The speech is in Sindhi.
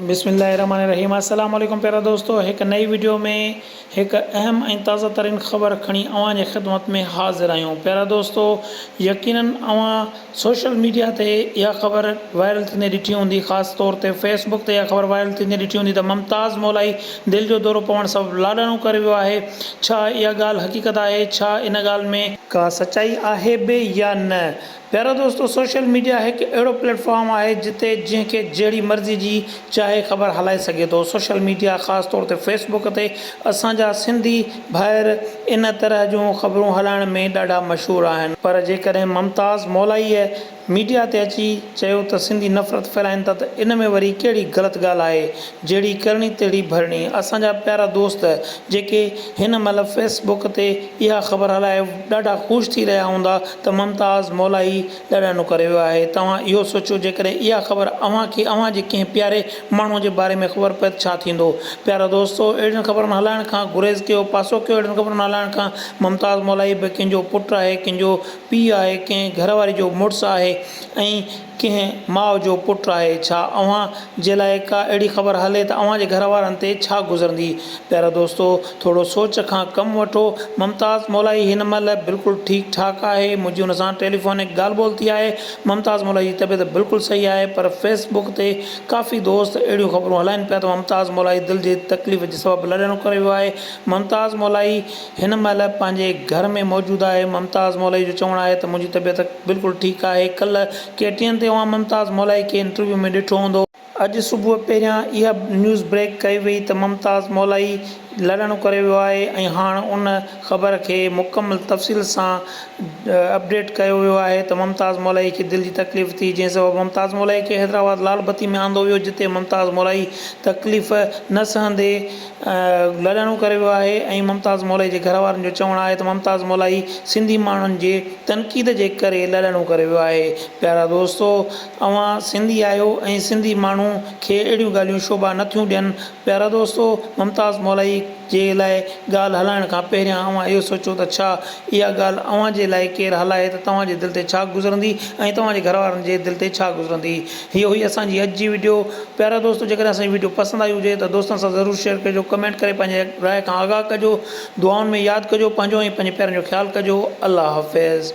بسم الله الرحمٰن الرحيم السلام عليڪم پيارا دوستو هڪ نئي وڊيو ۾ هڪ اهم ۽ تازه ترين خبر کڻي اوهان جي خدمت ۾ حاضر آهيون پيارا دوستو يقينن اوهان سوشل ميڊيا تي اها خبر وائرل ٿيندي ڏٺي هوندي خاص طور تي فيس بڪ تي اها خبر وائرل ٿيندي ڏٺي هوندي ته ممتاز مولائي دل جو دورو پوڻ سبب لاڏاڻو ڪري ويو آهي ڇا اها ڳالهه حقيقت آهي ڇا ان ڳالهه ۾ ڪا سچائي آهي به يا نه پيارا دوستو سوشل ميڊيا هڪ اهڙو پليٽ فارم آهي جتي جنهن کي جهڙي مرضي جي چاهي خبر هلائي سگهي ٿو سوشل ميڊيا خاص طور تي فيس بڪ تي اسان جا سنڌي ڀائر ان طرح جون خبرون هلائڻ ۾ ڏاڍا مشهور آهن پر جيڪڏهن ممتاز مولائيء ميڊيا تي اچي چيو ته سنڌي نفرت ڦهلائين ٿا ته ان ۾ وري ڪهڙي غلط ڳالهه آهي جهڙي ڪرڻي تهڙي ڀرڻي اسان جا پيارا دوست جيڪي هن مهل فيس بڪ تي اها خبر هلائي ڏاڍا خوش ٿي رهيا هوندا ته ممتاز مولائي ڏاڏاڻو ڪري ويو آهي. توهان اهو سوچيو جيڪڏهن اها خبر اوهان کي اوهان جي ڪنهن پياري ماڻهوء جي باري ۾ خبر پئي ته ڇا ٿيندو؟ پيارا دوستو! اهڙين خبرن هلائڻ کان گريز ڪيو، پاسو ڪيو اهڙين خبرن هلائڻ کان. ممتاز مولائي به ڪنهن جو پٽ آهي، ڪنهن جو پيء آهي، ڪنهن گهر واري جو مڙس آهي ۽ ڪنهن ماء جو پٽ آهي، ڇا اوهان جي لاء ڪا اهڙي خبر هلي ته اوهان جي گهر وارن تي ڇا گذرندي؟ پيارا دوستو! ٿورو سوچ کان ڪم وٺو. ممتاز مولائي هن مهل بلڪل ٺيڪ ٺاڪ آهي. منهنجي هن سان ٽيليفونڪ ڳالهه ٻولهه ٿي آهي. ممتاز مولائي جي طبيعت بلڪل صحيح آهي پر فيس بڪ تي ڪافي دوست اهڙيون خبرون هلائين پيا ته ممتاز مولائي دل جي تڪليف جي سبب لڏڻ ڪري ويو آهي. ممتاز مولائي. هن مهل پنهنجي گهر ۾ موجود آهي ممتاز مولائي جو چوڻ آهي ته منهنجي طبيعت بلڪل ٺيڪ آهي ڪلهه ڪي ٽي اين تي اوهان ممتاز مولائي کي انٽرويو ۾ ڏٺو هوندو اڄ صبح پهريان اها نيوز بريڪ ڪئي وئي ته ممتاز مولائي لڏڻ ڪري ويو آهي ۽ هاڻ ان خبر کي مڪمل تفصيل سان اپڊيٽ ڪيو ويو آهي ته ممتاز مولائي کي دل جي تڪليف ٿي جنهن سبب ممتاز مولائي کي حيدرآباد لال بتي ۾ آندو ويو جتي ممتاز مولائي تڪليف نه سهندي لاڏاڻو ڪري ويو آهي ۽ ممتاز مولائي جي گهر وارن جو چوڻ آهي ته ممتاز مولائي سنڌي ماڻهن جي تنقيد جي ڪري لاڏاڻو ڪري ويو آهي پيارا دوستو اوهان سنڌي آهيو ۽ سنڌي ماڻهو کي اهڙيون ڳالهيون شوڀا نه ٿيون ڏين پيارا دوستو ممتاز مولائي جي لاء ڳالهه هلائڻ کان پهريان اوهان اهو سوچو ته ڇا اها ڳالهه اوهان جي لاء ڪير هلائي ته توهان جي دل تي ڇا گذرندي ۽ توهان جي گهر وارن جي دل تي ڇا گذرندي. هيء هئي اسان جي اڄ جي وڊيو پيارا دوستو جيڪڏهن اسان جي وڊيو پسند آئي هجي ته دوستن سان ضرور شيئر ڪجو ڪمينٽ ڪري پنهنجي راء کان آگاهه ڪجو دعائن ۾ ياد ڪجو پنهنجو ۽ پنهنجي پيارن جو خيال ڪجو الله حافظ.